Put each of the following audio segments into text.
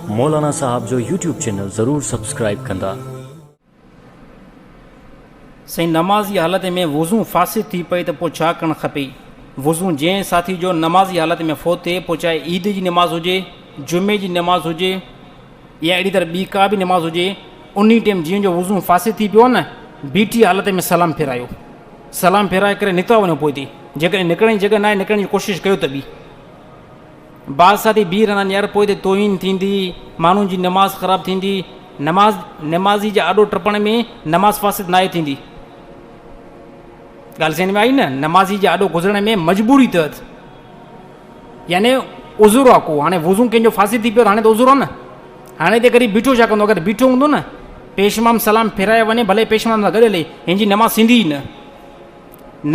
مولانا صاحب جو YouTube channel ضرور سبسڪرائب ڪندا. سائين نمازي حالت ۾ وضو فاسد ٿي پئي ته پوء ڇا ڪرڻ کپي؟ وضو جنهن ساٿي جو نمازي حالت ۾ فوت ٿئي پوء چاهي عيد جي نماز هجي، جمعي جي نماز هجي يا اهڙي طرح ٻي ڪا به نماز هجي انهي ٽيم جنهن جو وضو فاسد ٿي پيو آهي نه بيٺي حالت ۾ سلام ڦيرايو سلام ڦيرائي ڪري نڪتا وڃو پوء تي جيڪڏهن نڪرڻ جي جڳهه ناهي نڪرڻ جي ڪوشش ڪيو ته ٻي بادشاهه تي بيهه رهندا نيئر پوء تي توهين ٿيندي ماڻهن جي نماز خراب ٿيندي نماز نمازي جي آڏو ٽپڻ ۾ نماز فاسد ناهي ٿيندي ڳالهه سمجھ ۾ آئي نه نمازي جي آڏو گذرڻ ۾ مجبوري تحت يعني عذر آ کو هاڻي وضو ڪنهن جو فاسد ٿي پيو هاڻي ته عذر آ نه هاڻي ته غريب بيٺو ڇا ڪندو اگر بيٺو هوندو نه پيشمام سلام ڦيرائي وڃي ڀلي پيشمام سان گڏ هلي هن جي نماز ٿيندي ئي نه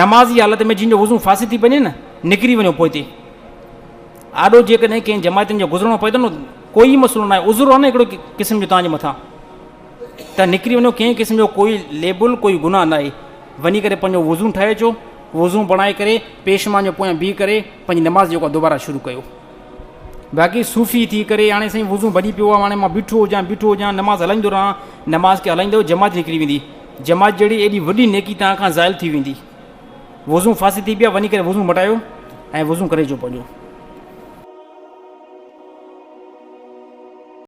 نماز جي حالت ۾ جن جو وضو فاسد ٿي پوي نه نڪري وڃو پوئتي آڏو جيڪڏهن ڪنهن جماعتن جو گذرڻو پوي ٿو نه ڪوئي مسئلو ناهي عذر آهي نه هڪڙو قسم جو تانجي مٿان ته نڪري وڃو ڪنهن قسم جو ڪوئي ليبل ڪوئي گناهه ناهي وڃي ڪري پنهنجو وضو ٺاهي اچو وضو بڻائي ڪري پيشمان جو پويان بيهي ڪري پنهنجي نماز جيڪو دوباره شروع ڪيو باقي صوفي ٿي ڪري هاڻي سائين وضو ڀڄي پيو آهي هاڻي مان بيٺو هجان بيٺو هجان نماز هلائيندو رهان نماز کي هلائيندو جماعت نڪري ويندي جماعت جهڙي ايڏي وڏي نيڪي توهان کان زائل ٿي ويندي. وضون فاسد ٿي پيا وڃي ڪري وضون مٽايو ۽ وضون ڪري اچو پنهنجو.